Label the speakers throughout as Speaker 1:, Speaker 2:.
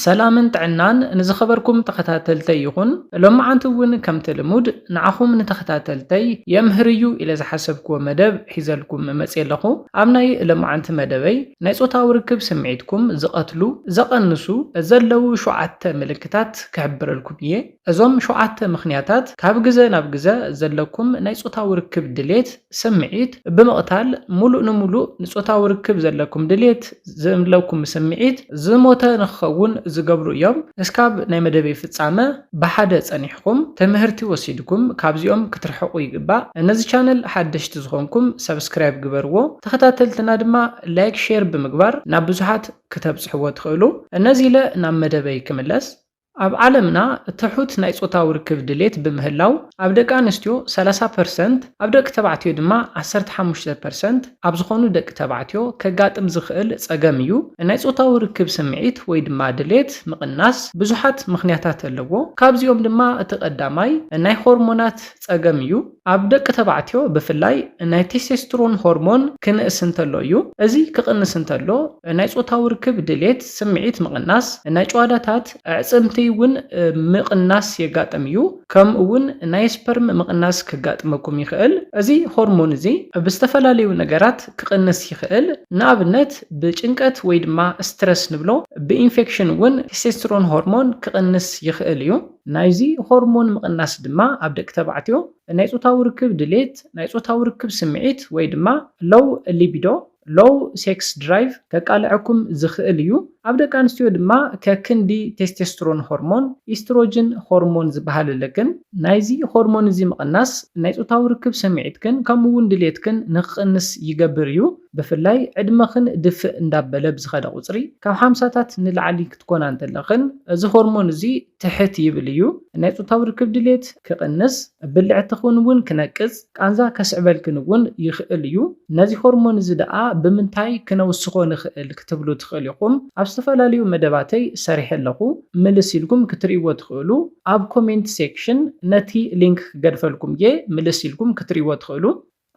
Speaker 1: ሰላምን ጥዕናን ንዝኸበርኩም ተኸታተልተይ ይኹን። ሎምዓንቲ እውን ከምቲ ልሙድ ንዓኹም ንተኸታተልተይ የምህር እዩ ኢለ ዝሓሰብክዎ መደብ ሒዘልኩም መፅየ ኣለኹ። ኣብ ናይ ሎምዓንቲ መደበይ ናይ ፆታዊ ርክብ ስምዒትኩም ዝቐትሉ፣ ዘቐንሱ፣ ዘለዉ ሸውዓተ ምልክታት ክሕብረልኩም እየ። እዞም ሸውዓተ ምኽንያታት ካብ ግዘ ናብ ግዘ ዘለኩም ናይ ፆታዊ ርክብ ድሌት፣ ስምዒት፣ ብምቕታል ሙሉእ ንሙሉእ ንፆታዊ ርክብ ዘለኩም ድሌት፣ ዝምለኩም ስምዒት፣ ዝሞተ ንክኸውን ዝገብሩ እዮም። እስካብ ናይ መደበይ ፍፃመ ብሓደ ፀኒሕኹም ትምህርቲ ወሲድኩም ካብዚኦም ክትርሕቑ ይግባእ። ነዚ ቻነል ሓደሽቲ ዝኾንኩም ሳብስክራይብ ግበርዎ። ተኸታተልትና ድማ ላይክ ሼር ብምግባር ናብ ብዙሓት ክተብፅሕዎ ትኽእሉ። ነዚ ኢለ ናብ መደበይ ክምለስ። ኣብ ዓለምና ትሑት ናይ ጾታዊ ርክብ ድሌት ብምህላው፣ ኣብ ደቂ ኣንስትዮ ሰላሳ ፐርሰንት፣ ኣብ ደቂ ተባዕትዮ ድማ ዓሰርተ ሓሙሽተ ፐርሰንት ኣብ ዝኾኑ ደቂ ተባዕትዮ ከጋጥም ዝኽእል ጸገም እዩ። ናይ ጾታዊ ርክብ ስምዒት ወይ ድማ ድሌት ምቕናስ ብዙሓት ምኽንያታት ኣለዎ። ካብዚኦም ድማ እቲ ቀዳማይ ናይ ሆርሞናት፣ ጸገም እዩ። ኣብ ደቂ ተባዕትዮ ብፍላይ ናይ ቴስቴስትሮን ሆርሞን ክንእስ እንተሎ እዩ። እዚ ክቕንስ እንተሎ ናይ ጾታዊ ርክብ ድሌት፣ ስምዒት ምቕናስ፣ ናይ ጭዋዳታት፣ ኣዕጽምቲ እውን ምቕናስ የጋጥም እዩ። ከምኡ እውን ናይ ስፐርም ምቕናስ ከጋጥመኩም ይኽእል። እዚ ሆርሞን እዚ ብዝተፈላለዩ ነገራት ክቕንስ ይኽእል። ንኣብነት ብጭንቀት ወይ ድማ ስትረስ ንብሎ። ብኢንፌክሽን እውን ቴስቴስትሮን ሆርሞን ክቕንስ ይኽእል እዩ። ናይዚ ሆርሞን ምቕናስ ድማ ኣብ ደቂ ተባዕትዮ ናይ ጾታዊ ርክብ ድሌት፣ ናይ ጾታዊ ርክብ ስምዒት ወይ ድማ Low Libido፣ Low Sex Drive፣ ከቃልዐኩም ዝኽእል እዩ። ኣብ ደቂ ኣንስትዮ ድማ ከክንዲ ቴስቴስትሮን ሆርሞን፣ ኢስትሮጅን ሆርሞን ዝበሃል ኣለክን። ናይዚ ሆርሞን እዚ ምቕናስ ናይ ጾታዊ ርክብ ስምዒትክን ከምኡ እውን ድሌትክን ንክቕንስ ይገብር እዩ። ብፍላይ ዕድመኽን ድፍእ እንዳበለ ብዝኸደ ቁጽሪ፣ ካብ ሓምሳታት ንላዕሊ ክትኮና እንተለኽን፣ እዚ ሆርሞን እዚ ትሕት ይብል እዩ። ናይ ጾታዊ ርክብ ድሌት ክቕንስ፣ ብልዕትኽን እውን ክነቅጽ፣ ቃንዛ ከስዕበልክን እውን ይኽእል እዩ። ነዚ ሆርሞን እዚ ደኣ ብምንታይ ክነውስኾ ንኽእል ክትብሉ ትኽእሉ ኢኹም። ኣብ ዝተፈላለዩ መደባተይ ሰሪሐ ኣለኹ። ምልስ ኢልኩም ክትርእይዎ ትኽእሉ። ኣብ ኮሜንት ሴክሽን ነቲ ሊንክ ክገድፈልኩም እየ፣ ምልስ ኢልኩም ክትርእይዎ ትኽእሉ።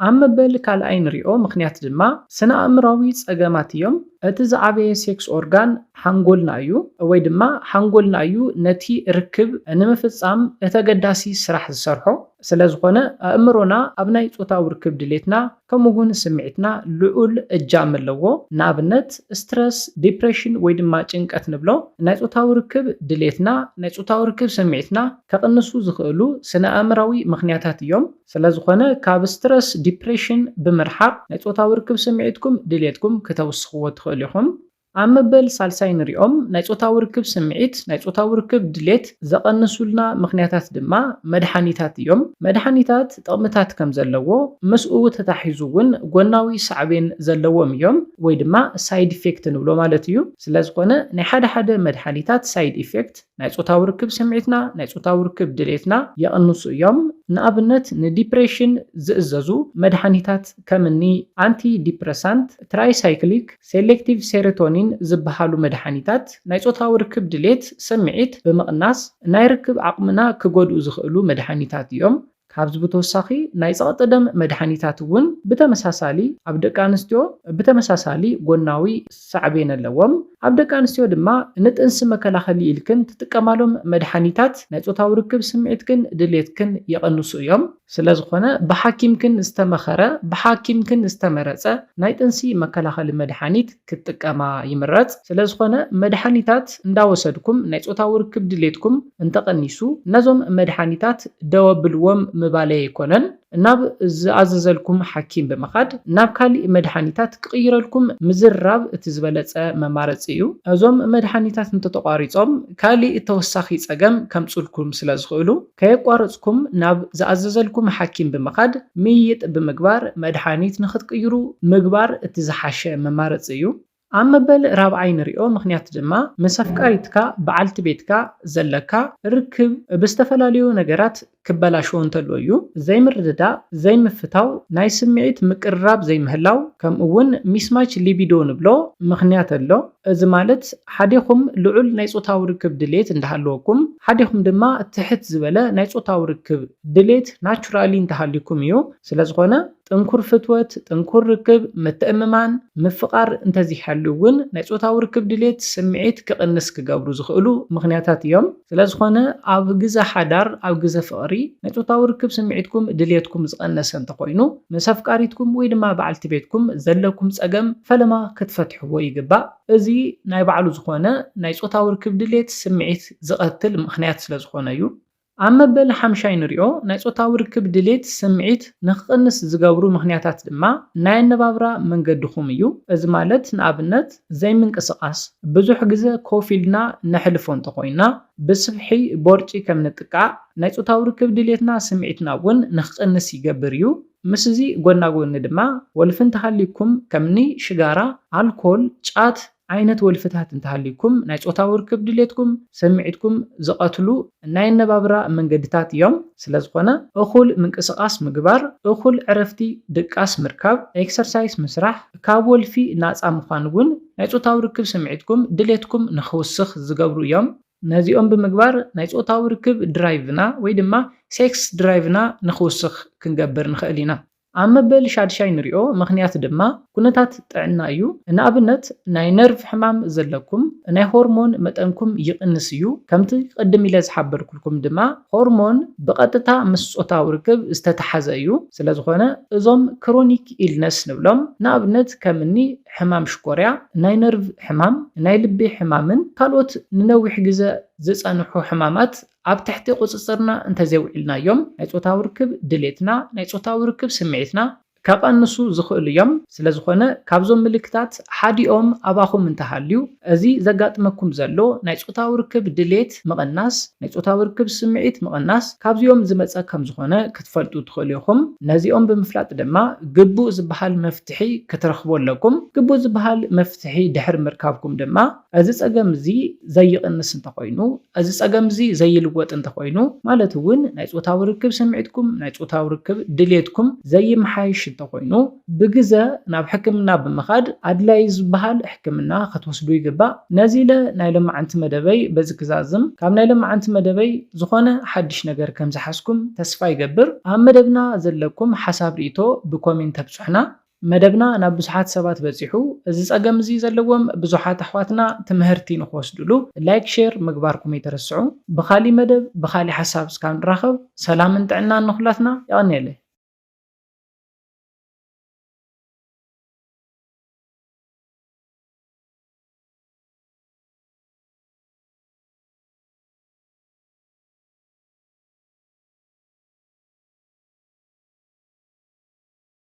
Speaker 1: ኣብ መበል ካልኣይ ንሪኦ ምኽንያት ድማ ስነ-ኣእምሮኣዊ ጸገማት እዮም። እቲ ዝዓበየ ሴክስ ኦርጋን ሓንጎልና እዩ፣ ወይ ድማ ሓንጎልና እዩ ነቲ ርክብ ንምፍጻም እቲ ኣገዳሲ ስራሕ ዝሰርሖ። ስለዝኾነ ኣእምሮና ኣብ ናይ ጾታዊ ርክብ ድሌትና ከምኡ እውን ስምዒትና ልዑል እጃም ኣለዎ። ንኣብነት ስትረስ፣ ዲፕረሽን ወይ ድማ ጭንቀት ንብሎ ናይ ጾታዊ ርክብ ድሌትና፣ ናይ ጾታዊ ርክብ ስምዒትና ከቕንሱ ዝኽእሉ ስነ-ኣእምሮኣዊ ምኽንያታት እዮም። ስለዝኾነ ካብ ስትረስ፣ ዲፕሬሽን፣ ብምርሓቕ ናይ ጾታዊ ርክብ ስምዒትኩም፣ ድሌትኩም፣ ክተውስኽዎ ትኽእሉ ኢኹም። ኣብ መበል ሳልሳይ ንሪኦም ናይ ጾታዊ ርክብ ስምዒት፣ ናይ ጾታዊ ርክብ ድሌት፣ ዘቐንሱልና ምኽንያታት ድማ መድሓኒታት እዮም። መድሓኒታት ጥቕምታት ከምዘለዎ ምስኡ ተታሒዙ እውን ጎናዊ ሳዕቤን ዘለዎም እዮም ወይ ድማ ሳይድ ኢፌክት ንብሎ ማለት እዩ። ስለዝኾነ ናይ ሓደ ሓደ መድሓኒታት ሳይድ ኢፌክት፣ ናይ ጾታዊ ርክብ ስምዒትና፣ ናይ ጾታዊ ርክብ ድሌትና ይቕንሱ እዮም። ንኣብነት ንዲፕሬሽን ዝእዘዙ መድሃኒታት ከም እኒ ኣንቲ ዲፕረሳንት፣ ትራይሳይክሊክ፣ ሴሌክቲቭ ሴሮቶኒን ዝበሃሉ መድሃኒታት ናይ ጾታዊ ርክብ ድሌት፣ ስምዒት፣ ብምቕናስ ናይ ርክብ ዓቕምና ክጎድኡ ዝኽእሉ መድሃኒታት እዮም። ካብዚ ብተወሳኺ ናይ ጸቕጢ ደም መድሓኒታት እውን ብተመሳሳሊ ኣብ ደቂ ኣንስትዮ ብተመሳሳሊ ጎናዊ ሳዕቤን ኣለዎም። ኣብ ደቂ ኣንስትዮ ድማ ንጥንሲ መከላኸሊ ኢልክን ትጥቀማሎም መድሓኒታት ናይ ጾታዊ ርክብ ስምዒትክን ድሌትክን የቐንሱ እዮም። ስለዝኾነ ብሓኪምክን ዝተመኸረ ብሓኪምክን ዝተመረጸ ናይ ጥንሲ መከላኸሊ መድሓኒት ክትጥቀማ ይምረጽ። ስለዝኾነ መድሓኒታት እንዳወሰድኩም ናይ ጾታዊ ርክብ ድሌትኩም እንተቐኒሱ ነዞም መድሓኒታት ደው ኣብልዎም ምባለይ ኣይኮነን። ናብ ዝኣዘዘልኩም ሓኪም ብምኻድ ናብ ካሊእ መድሓኒታት ክቕይረልኩም ምዝርራብ እቲ ዝበለጸ መማረጺ እዩ። እዞም መድሓኒታት እንተተቋሪጾም ካሊእ ተወሳኺ ጸገም ከምጹልኩም ስለዝኽእሉ። ከየቋረጽኩም ናብ ዝኣዘዘልኩም ሓኪም ብምኻድ ምይይጥ ብምግባር መድሓኒት ንኽትቅይሩ ምግባር እቲ ዝሓሸ መማረጺ እዩ። ኣብ መበል ራብዓይ ንሪኦ ምኽንያት ድማ ምስ ኣፍቃሪትካ፣ በዓልቲ ቤትካ፣ ዘለካ ርክብ ብዝተፈላለዩ ነገራት ክበላሾ እንተሎ እዩ። ዘይምርድዳእ፣ ዘይምፍታው፣ ናይ ስምዒት ምቅርራብ ዘይምህላው ከምኡ እውን ሚስማች ሊቢዶ ንብሎ ምኽንያት ኣሎ። እዚ ማለት ሓዲኹም ልዑል ናይ ጾታዊ ርክብ ድሌት እንዳሃለወኩም ሓዲኹም ድማ ትሕት ዝበለ ናይ ጾታዊ ርክብ ድሌት ናቹራሊ እንተሃልዩኩም እዩ። ስለዝኾነ ጥንኩር ፍትወት፣ ጥንኩር ርክብ፣ ምትእምማን፣ ምፍቓር እንተዘይሃልዩ እውን ናይ ጾታዊ ርክብ ድሌት፣ ስምዒት፣ ክቕንስ ክገብሩ ዝኽእሉ ምኽንያታት እዮም። ስለዝኾነ ኣብ ግዘ ሓዳር፣ ኣብ ግዘ ፍቕሪ፣ ናይ ፆታዊ ርክብ ስምዒትኩም፣ ድልየትኩም፣ ዝቐነሰ እንተኾይኑ ምስ ኣፍቃሪትኩም ወይ ድማ በዓልቲ ቤትኩም ዘለኩም ፀገም ፈለማ ክትፈትሕዎ ይግባእ። እዚ ናይ ባዕሉ ዝኾነ ናይ ፆታዊ ርክብ ድልየት ስምዒት ዝቐትል ምኽንያት ስለዝኾነ እዩ። ኣብ መበል ሓምሻይ ንሪኦ ናይ ፆታዊ ርክብ ድልየት ስምዒት ንክቕንስ ዝገብሩ ምኽንያታት ድማ ናይ ኣነባብራ መንገድኹም እዩ። እዚ ማለት ንኣብነት። ዘይምንቅስቓስ፣ ብዙሕ ግዘ ኮፍ ኢልና ነሕልፎ እንተኾይንና ብስብሒ ቦርጪ ከም ንጥቃዕ፣ ናይ ፆታዊ ርክብ ድሌትና ስምዒትና እውን ንክቕንስ ይገብር እዩ። ምስዚ ጎና ጎኒ ድማ ወልፊ እንተሃልዩኩም ከምኒ ሽጋራ፣ ኣልኮል፣ ጫት ዓይነት ወልፍታት እንተሃልዩኩም ናይ ፆታዊ ርክብ ድሌትኩም፣ ስምዒትኩም፣ ዝቐትሉ፣ ናይ ኣነባብራ መንገድታት እዮም፣ ስለዝኾነ እኹል ምንቅስቓስ ምግባር፣ እኹል ዕረፍቲ ድቃስ ምርካብ፣ ኤክሰርሳይስ ምስራሕ፣ ካብ ወልፊ ናጻ ምዃን እውን ናይ ጾታዊ ርክብ ስምዒትኩም ድሌትኩም ንኽውስኽ ዝገብሩ እዮም። ነዚኦም ብምግባር ናይ ጾታዊ ርክብ ድራይቭና ወይ ድማ ሴክስ ድራይቭና ንኽውስኽ ክንገብር ንኽእል ኢና። ኣብ መበል ሻድሻይ ንሪኦ ምኽንያት ድማ ኩነታት ጥዕና እዩ። ንኣብነት ናይ ነርቭ ሕማም ዘለኩም ናይ ሆርሞን መጠንኩም ይቕንስ እዩ። ከምቲ ቅድም ኢለ ዝሓበርኩልኩም ድማ ሆርሞን ብቐጥታ ምስ ጾታዊ ርክብ ዝተተሓዘ እዩ። ስለዝኾነ እዞም ክሮኒክ ኢልነስ ንብሎም ንኣብነት ከምኒ ሕማም ሽኮርያ፣ ናይ ነርቭ ሕማም፣ ናይ ልቢ ሕማምን ካልኦት ንነዊሕ ግዘ ዝፀንሑ ሕማማት ኣብ ትሕቲ ቁጽጽርና እንተዘይውዒልናዮም ናይ ጾታዊ ርክብ ድሌትና፣ ናይ ጾታዊ ርክብ ስምዒትና፣ ከቐንሱ ዝኽእሉ እዮም፣ ስለዝኾነ ካብዞም ምልክታት ሓዲኦም ኣባኹም እንተሃልዩ እዚ ዘጋጥመኩም ዘሎ ናይ ጾታዊ ርክብ ድሌት ምቕናስ፣ ናይ ጾታዊ ርክብ ስምዒት ምቕናስ ካብዚኦም ዝመጸ ከምዝኾነ ክትፈልጡ ትኽእሉ ኢኹም። ነዚኦም ብምፍላጥ ድማ ግቡእ ዝበሃል መፍትሒ ክትረኽቡ ኣለኩም። ግቡእ ዝበሃል መፍትሒ ድሕሪ ምርካብኩም ድማ፣ እዚ ጸገም እዚ ዘይቕንስ እንተኾይኑ፣ እዚ ጸገም እዚ ዘይልወጥ እንተኾይኑ፣ ማለት እውን ናይ ጾታዊ ርክብ ስምዒትኩም፣ ናይ ጾታዊ ርክብ ድሌትኩም ዘይመሓየሽ እንተኾይኑ፣ ብግዘ ናብ ሕክምና ብምኻድ ኣድላይ ዝበሃል ሕክምና ክትወስዱ ይግባእ። ነዚ ኢለ ናይ ሎማዕንቲ መደበይ በዚ ክዛዝም፣ ካብ ናይ ሎማዕንቲ መደበይ ዝኾነ ሓድሽ ነገር ከምዝሓዝኩም ተስፋ ይገብር። ኣብ መደብና ዘለኩም ሓሳብ ሪኢቶ ብኮሜንት ተብጹሑና። መደብና ናብ ብዙሓት ሰባት በጺሑ እዚ ጸገም እዚ ዘለዎም ብዙሓት ኣሕዋትና ትምሀርቲ ንክወስድሉ ላይክ ሼር ምግባርኩም ኣይትረስዑ ብካሊ መደብ ብካሊ ሓሳብ እስካብ ንራከብ ሰላምን ጥዕናን ንኩላትና የቀንየለይ።